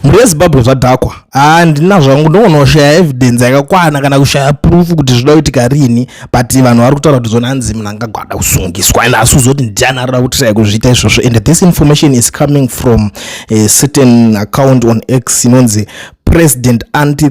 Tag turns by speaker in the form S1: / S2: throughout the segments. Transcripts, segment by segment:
S1: mhuri yezimbabwe zvadhakwa handina zvangu ndongoona kushaya evidence yakakwana kana kushaya proof kuti zvida kuitika riini but vanhu vari kutaura kuti zona hanzi munhu angagwada kusungiswa and asi uzoti ndiani arira kuti shaya kuzviita izvozvo and this information is coming from a certain account on x inonzi president anti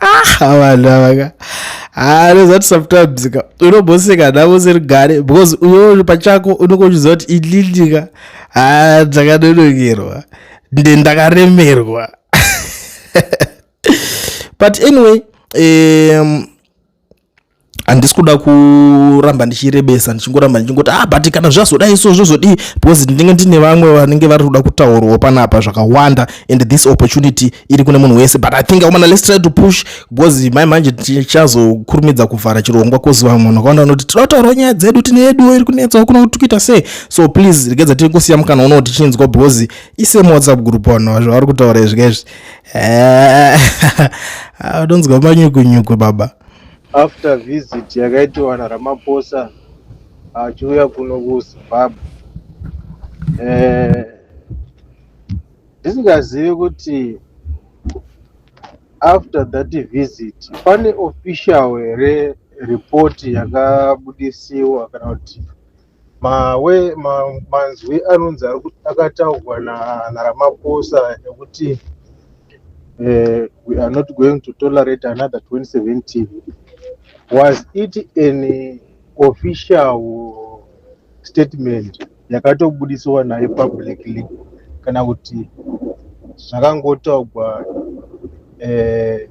S1: ah vanhu avaka ah that's what sometimes ka unoboseka navo siri gare because uyo pachako unenge uchiziva kuti ililika ah dzakanonokerwa nde ndakaremerwa but anyway um, handisi kuda kuramba ndichirebesa ndichingoramba ndichingoti ah but kana zvazodai so zvozodii because ndinenge ndine vamwe vanenge vari kuda kutaurwa panapa zvakawanda and this opportunity iri kune munhu wese but i think amana let's try to push because mai manje tichazokurumidza kuvhara chirongwa kozi vamwe vanhu vakawanda vanoti tinoda kutaurawo nyaya dzedu tine yeduwo iri kunetsawo kuno kuti kuita sei so please regedza tiri kusiya mukana unowo tichinzwa because isemu whatsapp group vanhu vavari kutaura izvi kaizvi unonzwa manyukunyuku baba after
S2: visit yakaitiwa naramaphosa achiuya kuno kuzimbabwe eh, ndisingazivi kuti after that visit pane official here report yakabudisiwa kana kuti mawe ma- manzwi anonzi ari kut- akataurwa na- naramaphosa ekuti eh, we are not going to tolerate another 2017 was it an official statement yakatobudisiwa naye publicly kana kuti zvakangotaurwa eh,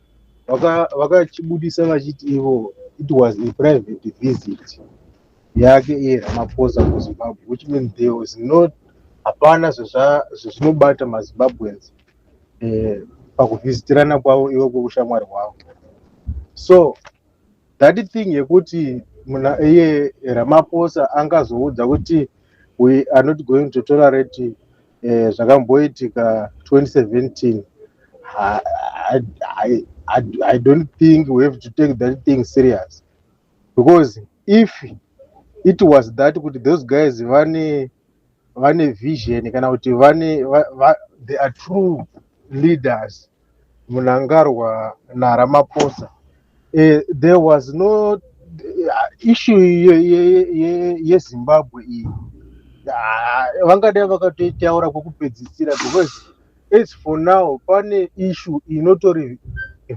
S2: vakachibudisa vaka vachiti ivo it was a private visit yake iye ramaphosa kuzimbabwe which means there was not hapana zvezvinobata mazimbabweans eh, pakuvhisitirana kwavo ivo kweushamwari hwavo so that thing yekuti muna iye ramaphosa angazoudza kuti we are not going to tolerate eh, zvakamboitika 2017 I, I, I, I, I don't think we have to take that thing serious because if it was that kuti those guys vane vane vision kana kuti vane va, va, they are true leaders Munangarwa na Ramaphosa eh, there was no eh, issue ye, ye, ye, ye Zimbabwe iyi Ah, vangadai vakatoitaura kwekupedzisira because as for now pane issue inotori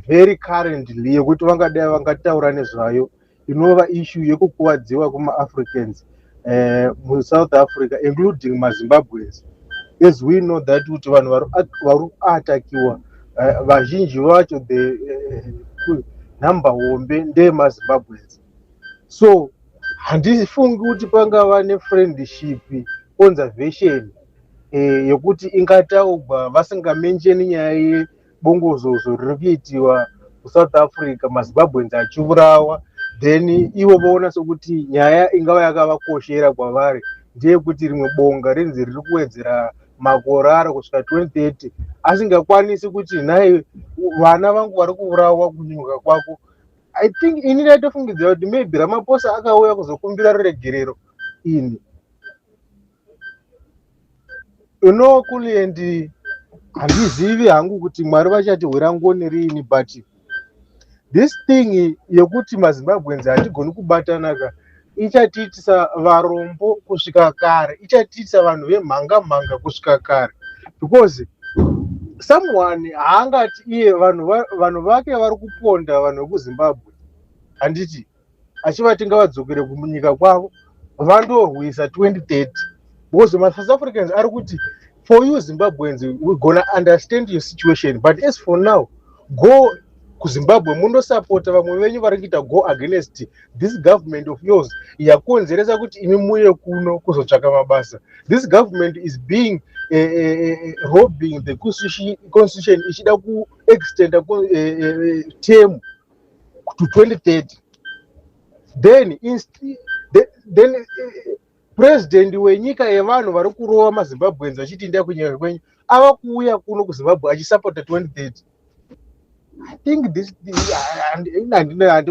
S2: very currently yekuti vangadai vangataura nezvayo inova ishu yekukuwadziwa kumaafricans eh, musouth africa including mazimbabweans as we know that kuti vanhu vari kuatakiwa eh, vazhinji vacho the eh, eh, number hombe ndeyemazimbabweans so handifungi kuti pangava nefriendship conservation eh, yekuti ingataugwa vasingamenjeni nyaya bongozozo riri kuitiwa kusouth africa mazimbabweans achiurawa then ivo voona sokuti nyaya ingava yakavakoshera kwavari ndeyekuti rimwe bonga rinzi riri kuwedzera makore aro kusvika 2030 asingakwanisi kuti nhai vana vangu vari kuurawa kunyuka kwako i think ini ndaitofungidzira kuti maybe ramaposa akauya kuzokumbira ruregerero ini you know kuliendi handizivi hangu kuti mwari vachatihwira ngoni riini but this thing yekuti mazimbabweans hatigoni kubatanaka ichatiitisa varombo kusvika kare ichatiitisa vanhu vemhanga mhanga kusvika kare because someone haangati iye vanhu vake vari kuponda vanhu vekuzimbabwe handiti achivati ngavadzokere kumunyika kwavo vandorwisa 2030 because masouth africans ari kuti for you zimbabweans we gonna understand your situation but as for now go kuzimbabwe munosapota vamwe venyu vari kuita go against this government of yours yakonzeresa kuti imi muye kuno kuzotsvaka mabasa this government is being uh, uh, robbing the constitution ichida kuextenda uh, uh, term to 2030 then insti, then, then eh, president wenyika yevanhu vari kurova mazimbabweans vachiti ndai kunyika kwenyu ava kuuya kuno kuzimbabwe achisapota 2030 i think this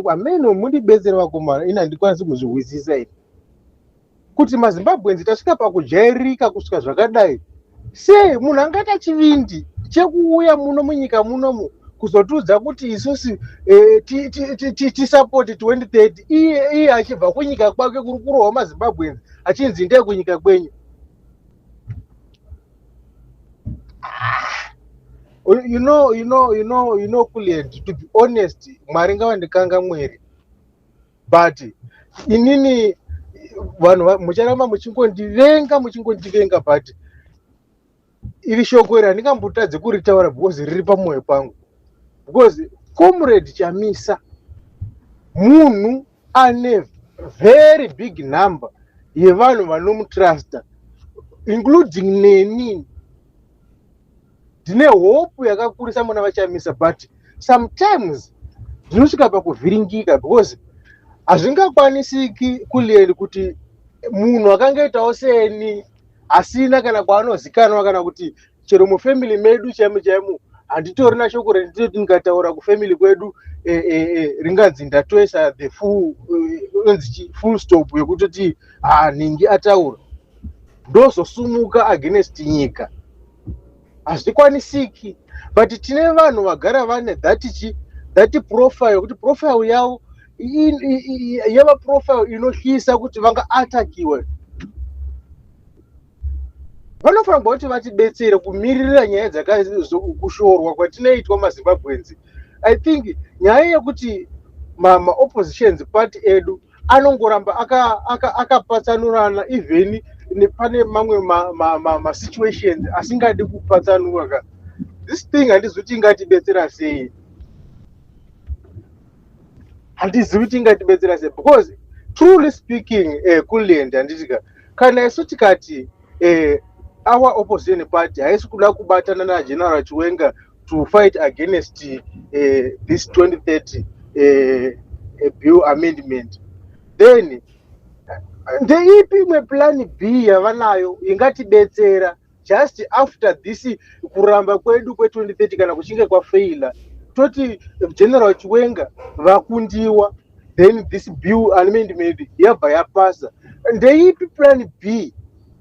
S2: ameno mundibetsere vakomana ini handikwanisi kuzvihwisisa ini kuti mazimbabwenzi tasvika pakujairika kusvika zvakadai sei munhu angaita chivindi chekuuya muno munyika munomu kuzotiudza kuti isusu eh, tisapoti 2030 iye achibva kunyika kwake kuri kurohwa mazimbabwenzi achinzi ndee kunyika kwenyu you know you know you know you know kulient to be honest mwari ngavandikanga mweri but inini vanhu mucharamba muchingondivenga muchingondivenga but iri shoko iri handingambotadze kuritaura because riri pamwoyo pangu because comrade chamisa munhu ane very big number yevanhu vanomutrusta including neni ndine hope yakakurisa muna vachamisa but sometimes zvinosvika pakuvhiringika because hazvingakwanisiki kulieni kuti munhu akangaitawo seni asina kana kwaanozikanwa kana kuti chero mufamily medu chaimo chaimo handitori nashoko rendinoti ndikataura kufamily kwedu e, e, e, ringanzi ndatoisa the full e, full stop yekutoti hanhingi ataura ndozosumuka against nyika hazvikwanisiki but tine vanhu vagara vane that chi that profile kuti profile yavo in- i- i- i- yava profile inotyisa kuti vangaatakiwe vanofanira kuva kuti vatibetsere kumiririra nyaya dzakakushorwa kwatinoitwa mazimbabwenzi i think nyaya yekuti ma- maoppositions party edu anongoramba akapatsanurana aka, aka even nepane mamwe masituations ma, ma, ma asingadi kupatsanura ka this thing handizivi kuti ingatibetsera sei handizivi kuti ingatibetsera sei because truly speaking uh, eh, kulend handitika kana isu tikati uh, our opposition party haisi kuda kubatana nageneral chiwenga to fight against uh, this 2030 uh, uh, bill amendment then ndeipi imwe plan b yavanayo ingatibetsera just after this kuramba kwedu kwe2030 kana kuchinge kwafeila toti general chiwenga vakundiwa then this bill amendment yabva yapasa ndeipi plan b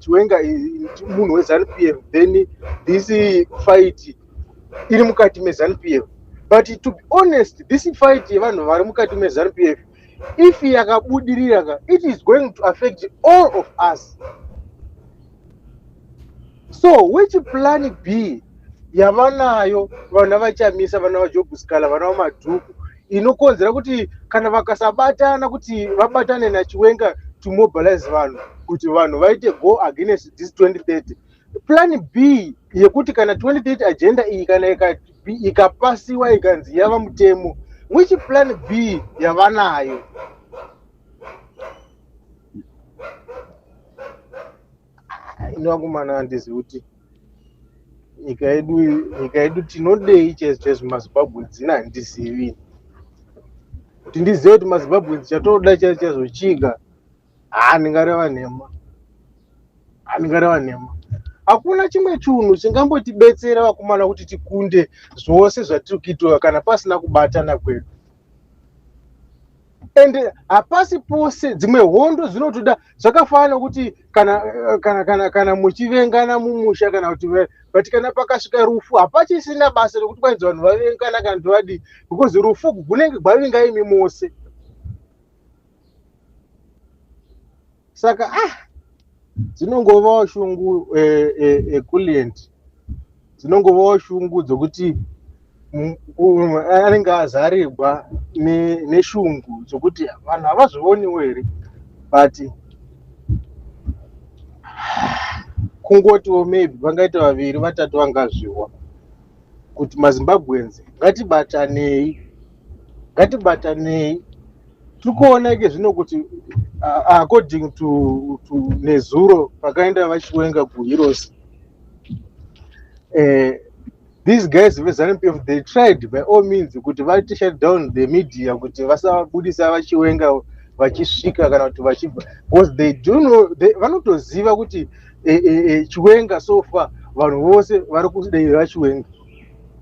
S2: chiwenga munhu wezanu p f then this fight iri mukati mezanu p f but to be honest this fight yevanhu vari mukati mezanu p f if yakabudirira ka it is going to affect all of us so which plan b yavanayo vana vachamisa vana vajobuskala vana vamadhuku inokonzera kuti kana vakasabatana kuti vabatane nachiwenga to mobilize vanhu kuti vanhu vaite go against this 2030 plan b yekuti kana 2030 agenda iyi kana ikapasiwa ikanzi yava mutemo which plan b yavanayo inovakumana andizivi kuti nyika yedu nyika yedu tinodei chese chese mazimbabwe dzina handizivi kuti ndizive kuti mazimbabwe chatoda chese chese chiga haa ndingareva nhema haa ndingareva nhema hakuna chimwe chunhu chingambotibetsera vakomana kuti tikunde zvose zvatiri kuitwa kana pasina kubatana kwedu and hapasi pose dzimwe hondo dzinotoda zvakafanana nokuti kana eh, kana kana kana muchivengana mumusha kana kuti but kana pakasvika rufu hapachisina basa rekuti kwanzi vanhu vavengana kana kuti vadii because rufu gunenge gwavinga imi mose saka ah dzinongovawo shungu ekuliant eh, eh, eh, dzinongovawo shungu dzokuti anenge azarigwa neshungu dzokuti vanhu havazvioniwo here but kungotiwo maybe vangaita vaviri vatatu vangazviwa kuti mazimbabweans ngatibatanei ngatibatanei tikuona ike zvino kuti uh, according to, to nezuro pakaenda vachiwenga kuheroes uh, these guys vezanup f they tried by all means kuti vati shut down the media kuti vasabudisa vachiwenga vachisvika kana kuti vachibva because they do know vanotoziva kuti eh, eh, eh, chiwenga so far vanhu vose vari kudai vachiwenga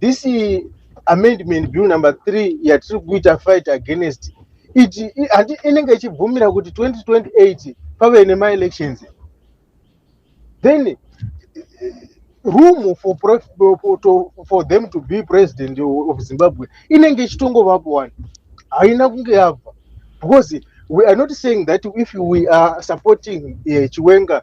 S2: this amendment bill number 3 yatiri kuita fight against it handi inenge ichibvumira kuti 2028 pave nemaelections then room for, for, to, for them to be president of zimbabwe inenge ichitongovapo wani haina kunge yabva because we are not saying that if we are supporting uh, chiwenga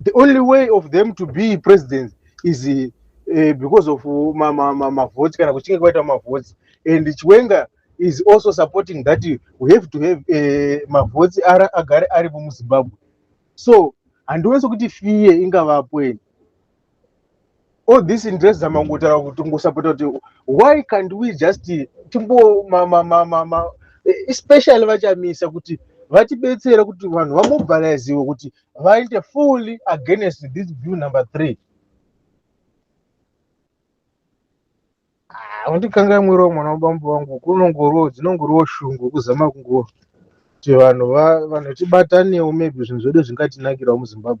S2: the only way of them to be president is uh, because of uh, ma, ma, ma, ma votes kana kuchinge kwaita ma votes and chiwenga is also supporting that we have to have uh, eh, ma votes ara agare aripo muzimbabwe so handiwese kuti fiye ingavapo eni all this interest zama kungotaura kuti kungosapota kuti why can't we just timbo especially vachamisa kuti vatibetsere kuti vanhu vamobiliziwe kuti vaite fully against this bill number three undikangai ah, mwiri wemwana wabambo vangu kunongoriwo dzinongoriwo shungu kuzama kungo kuti vanhu vanhu tibatanewo maybe zvinhu zvedu zvingatinakirawo muzimbabwe